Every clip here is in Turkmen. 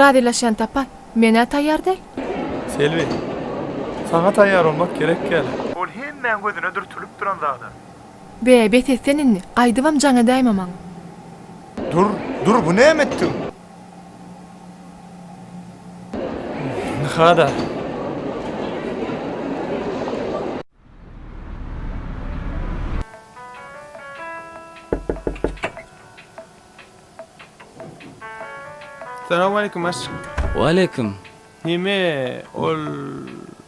Razylaşýan tapar. Men-ä taýýar däl. Selbi. Saňa taýýar bolmak gerek däl. Ol hemmäň gözüne dürtülip duran zada. Be, bes et sen indi. Gaýdybam jaň edäýme maňa. Dur, dur, bu näme etdigiň? Ynha-da. Salam aleýkum aşyk. Waleýkim. Neme ol.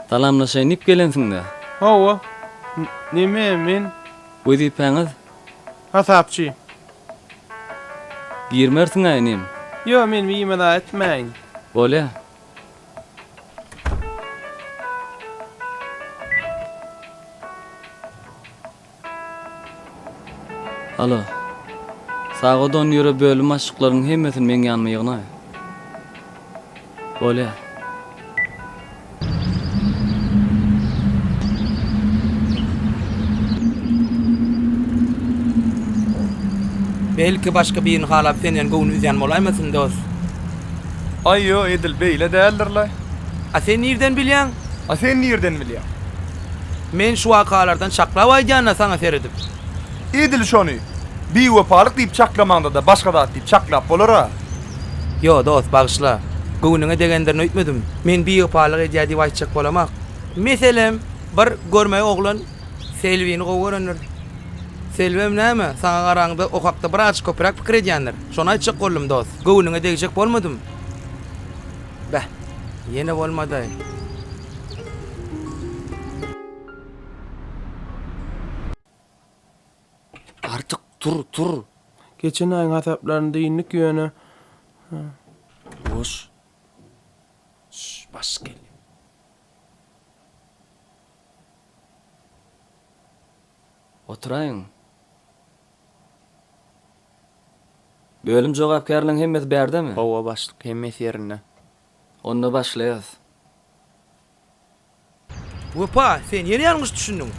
Salamlaşaýyn diýip gelensiňdä. Hawa. Neme men. Wezipäňiz? Hasapçy. Girmersiň-ä inim. Ýok men wiýme da etmäýin. Bolýa. Alo. Sagadon ýöre bölüm başlyklarynyň hemmesini meň ýanyma ýygnaý. Bolýa. Belki başga birini halap senden göwün üzýän bolaýmasyn dos. Aý ýo edil beýle däldirle. A sen nirden bilýäň? A sen nirden bilýäň? Men şu wakalardan çaklap aýdýan-da saňa seredip. Edil şony biwepalyk diýip çaklamaňda-da başga zat diýip çaklap bolar-a. Ýo, dost, bagyşla. Göwnüňe degendirin öýtmedim. Men biwepalyk edýär diýip aýtjak bolamok. Meselem, bir görmeý oglan Selbini gowy görendir. Selbem näme, saňa garaňda o hakda birazajyk köpräk pikir edýändir. Şony aýtjak boldum, dost. Göwnüňe degjek bolmadym. Bäh, ýene bolmady-aý. Artyk, tur, tur! Geçen aýyň hasaplaryny dindik ýöne. Boş. Şş, baş gel. Oturaýyň. Bölüm jogapkärleriň hemmesi bärdemi? Hawa, başlyk, hemmesi ýerinde. Onda başlaýarys. Wepa, sen ýene ýalňyş düşündiň.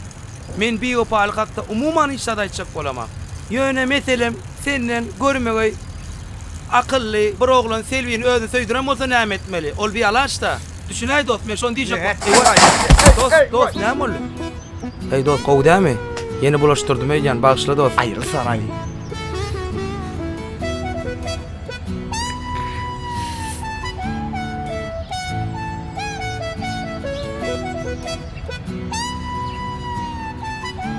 Men biwepalyk hakda umuman hiç zat aýtjak bolamok. Ýöne meselem, senden görmegeý akylly bir oglan Selbini özüne söýdüren bolsa näme etmeli? Ol bialaç-da. Düşünäý dost, men şony diýjek boldum. Eý waý. Dost, dost, näme boldy? Eý dost, gowy dälmi? Ýene bulaşdyrdym öýdýän, bagyşla dost. Aýrylsana-aý.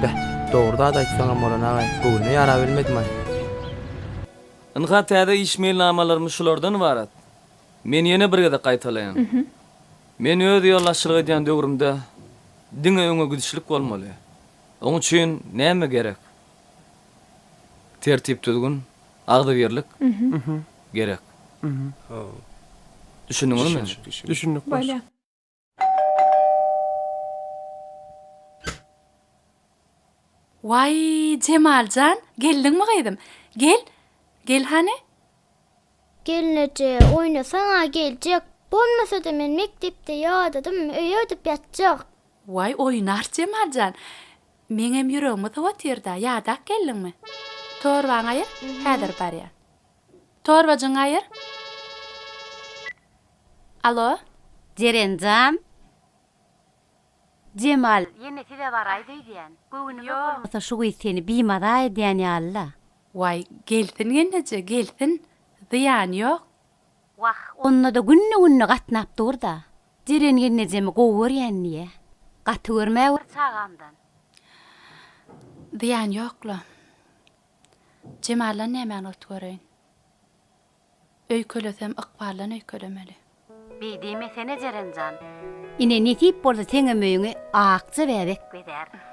Beh, dogry zat aýtsaňam bolan agaý, bu günde ýara bilmedimaý. Ynha täze iş meýilnamalarymyz şulardan ybarat. Men ýene bir gezek gaýtalaýyn. Men öz ýolbaşçylyk edýän döwrümde diňe öňe gidişlik bolmaly. Oň üçin näme gerek? Tertip-düzgün, agzybirlik gerek. Düşündiňizmi? Düşündik başlyk. Waý, Jemal jan, geldiňmi gyzym? Gel, gel hany. Gelneje, oýnasaň-a geljek. Bolmasa-da men mekdepde ýadadym, öýe gidip ýatjak. Waý, oýnar Jemal jan. Meňem ýüregimi sowatyrda, ýadap geldiňmi? Torbaňy aýyr, häzir barýan. Torbajyňy aýyr. Alo? Jeren jan? Jemal, ýene size baraýda öýdýän. Göwnüme bolmasa şu gyz seni bimaza edýän ýaly-la. Waý, gelsin gelneje, gelsin. Zyýany ýok. Wah, onda-da günde-günde gatnap dur-da. Jeren gelnejem gowy görýän diýä. Gaty görme bir çagamdan. Zyýan ýokla. Jemaldan nämäni ot göreýin. Öýkelesem ykbaldan öýkelemeli. Beý diýmesene Jerenjan. Ine nesip bolsa seňem öýüňi Akja bäbek bezär.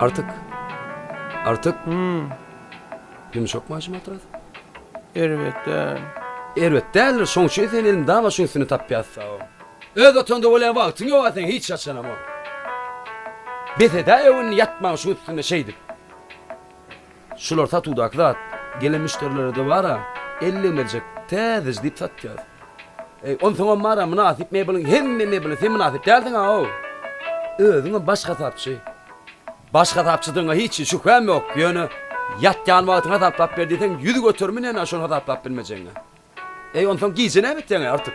Artyk. Artyk. Ýumşak maşyn matras. Erbet däl. Erbet däldir, şoň üçin seni elin daň aşyň üstünde tapýas sao. Öz otagynda bolýa wagtyň ýoga seň hiç haçanam o. Bes edäýew indi ýatmaň şuň üstünde şeýdip. Şular satuwdaky zat. Gelen müşderilere dobara elli merjek täzeji diýip satýas. Eý, onsoňam bar-a mynasyp mebeliň hemme mebeline sen mynasyp däldiň-aw. Özüňem baş hasapçy. Baş hasapçydygyňa hiç şübhäm ýok, ýöne ýatýan wagtyňy hasaplap ber diýseň ýüz göterimi näme şony hasaplap bilmejegiňe. Eý, onsoň gije näme etýäň-eý, Artyk?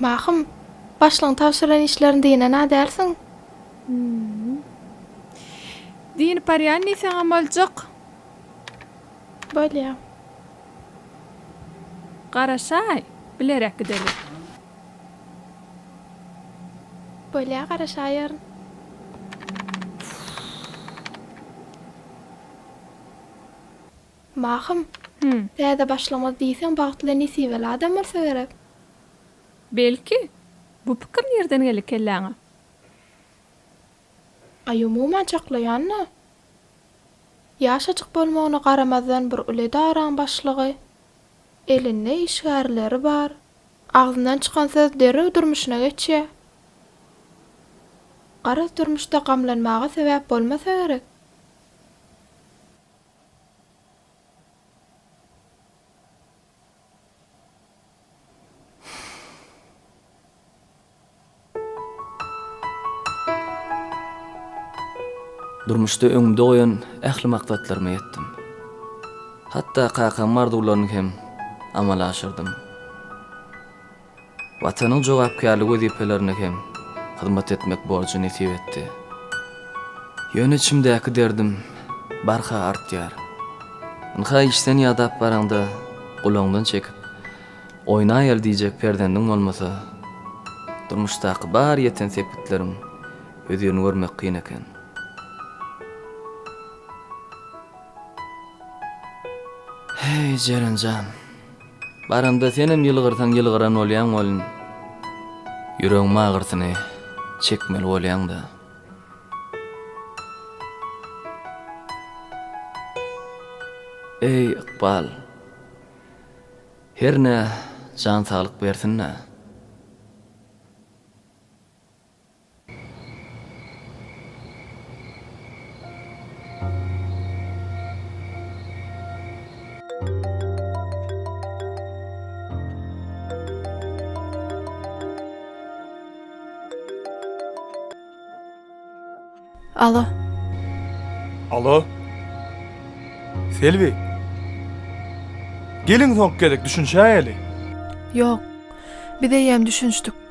Mahym, başlygyň tabşyran işlerini dynana dälsiň? Hum. Dynyp barýan diýseňem boljak. Bolýa. Garaşaý, bilerek gideris. Bolýa, garaşaýaryn. Mahym, Hü. Täze başlamaz diýseň bagtly nesibeli adam bolsa gerek. Belki. Bu pikir nirden geldi kelläňe? Aý umuman çaklaýan-da. Ýaşajyk bolmagyna garamazdan bir uly edaraň başlygy. Elinde işgärleri bar. Agzyndan çykan söz derrew durmuşyna geçýär. Garaz durmuşda gamlanmaga sebäp bolmasa gerek. Durmuşda öňümde goýan ähli maksatlaryma ýetdim. Hatda kakamyň arzuwlaryny hem amala aşyrdym. Watanyň jogapkärli wezipelerine hem hyzmat etmek borjy nesip etdi. Ýöne içimdäki derdim barha artýar. Ynha işden ýadap baraňda gulagyňdan çekip, oýnaýaly diýjek perzendiň bolmasa, durmuşdaky bar ýeten sepgitleriň hözirini görmek kyn eken. Heý, Jeren jan! Baranda senem ýylgyrsaň ýylgyran bolýaň welin ýüregiň agyrsyny çekmeli bolýaňda. Eý ykbal. Hernä jan saglyk bersin-dä. Alo. Alo. Selbi. Geliň soň gelek düşünşäýeli. Ýok. Biz eýýäm düşünşdik.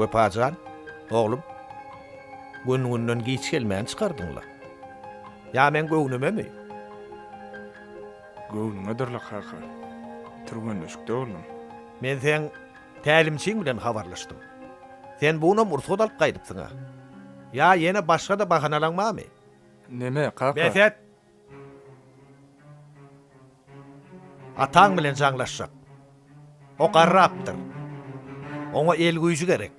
Wepajan, oglum, gün-günden giç gelmäni çykardyň-la. Ýa meň göwnümemi? Göwnüňedir-le, kaka. Türgenleşikde boldum. Men seň tälimçiň bilen habarlaşdym. Sen bu günam rugsat alyp gaýdypsyň-a. Ýa ýene başga-da bahanalaň barmy? Neme, kaka? Bes et! Ataň bilen jaňlaşjak. O garrapdyr. Oňa el güýji gerek.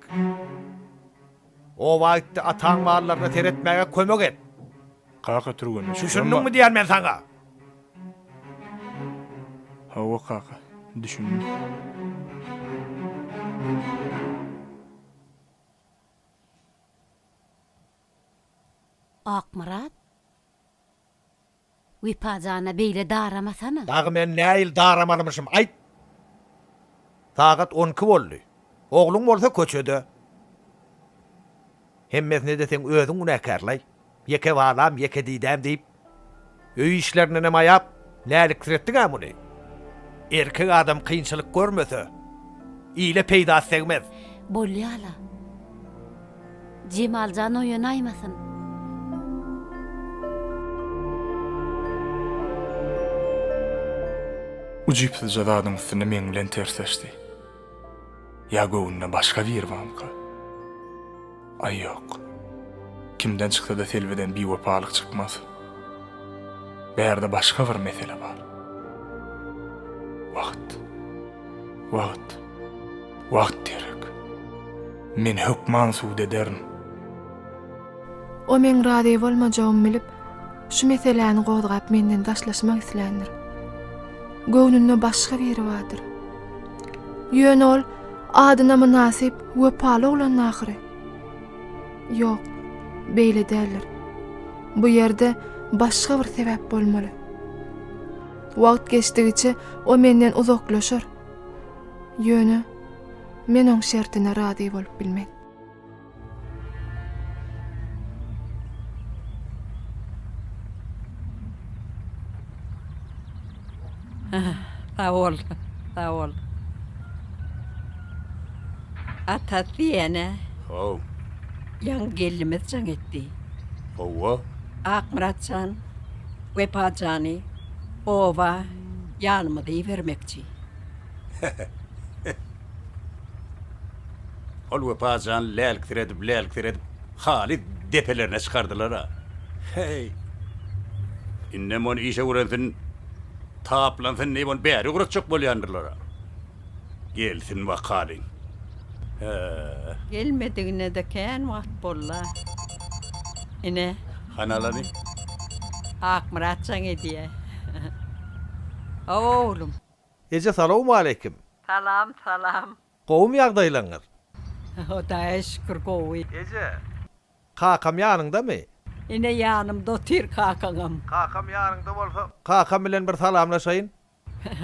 Oba git-de ataň mallaryna seretmäge kömek et! Kaka türgenleşip ýörmä. Düşündiňmi diýýän men saňa? Hawa, kaka, düşündim. Akmyrat, Wepa jana beýle daramasana. Dagy men näil daramalymyşym, aýt? Sagat on iki boldy. Ogluň bolsa köçede. Hemmesine-de seň özüň günäkärlaý. Ýeke balam, ýeke didäm diýip, öý işlerindenem aýap, läliksiretdiň-ä muny. Erkek adam kynçylyk görmese, ile peýdasy degmez. Bolýa-la. Jemal jan oýanaýmasyn. Ujypsyzja zadyň üstünde meň bilen tersleşdi. Ýa göwnüne başga biri barmyka? Aý ýok. Kimden çyksa-da Selbiden biwepalyk çykmaz. Bärde başga bir mesele bar. Wagt. Wagt. Wagt gerek. Men hökman subut ederin. O meň razy bolmajagymy bilip, şu meseläni gozgap menden daşlaşmak isländir. Göwnünde başga biri bardyr. Ýöne ol adyna mynasyp, wepaly oglandy ahyry. Ýok, beýle däldir. Bu ýerde başga bir sebäp bolmaly. Wagt geçdigiçe o menden uzaklaşar. Ýöne men oň şertine razy bolup bilmen. Sag bol, sag bol. Ata diýene. How. Ýaňy gelnimiz jaň etdi. Howwa. Akmyrat jan, Wepa jany oba ýanymyza ibermekçi. Ol Wepa jan lälksiredip-lälksiredip halys depelerine çykardylar-a. Heý! Indem ony işe öwrensin, taplansyn diýip ony bäri ugratjak bolýandyrlar-a. Gelsin bakalyň. Hä-ä. Gelmedigine-de kän wagt boldy-a. Ine. Hany alany? Akmyrat jaň edýä. Hawa, oglum. Eje salowmaleýkim. Salam salam. Gowymy ýagdaýlaryňyz. Hudaýa şükür gowy. Eje. Kakam ýanyňdamy. Ine ýanymda otyr kakaňam. Kakam ýanyňda bolsa kakam bilen bir salamlaşaýyn.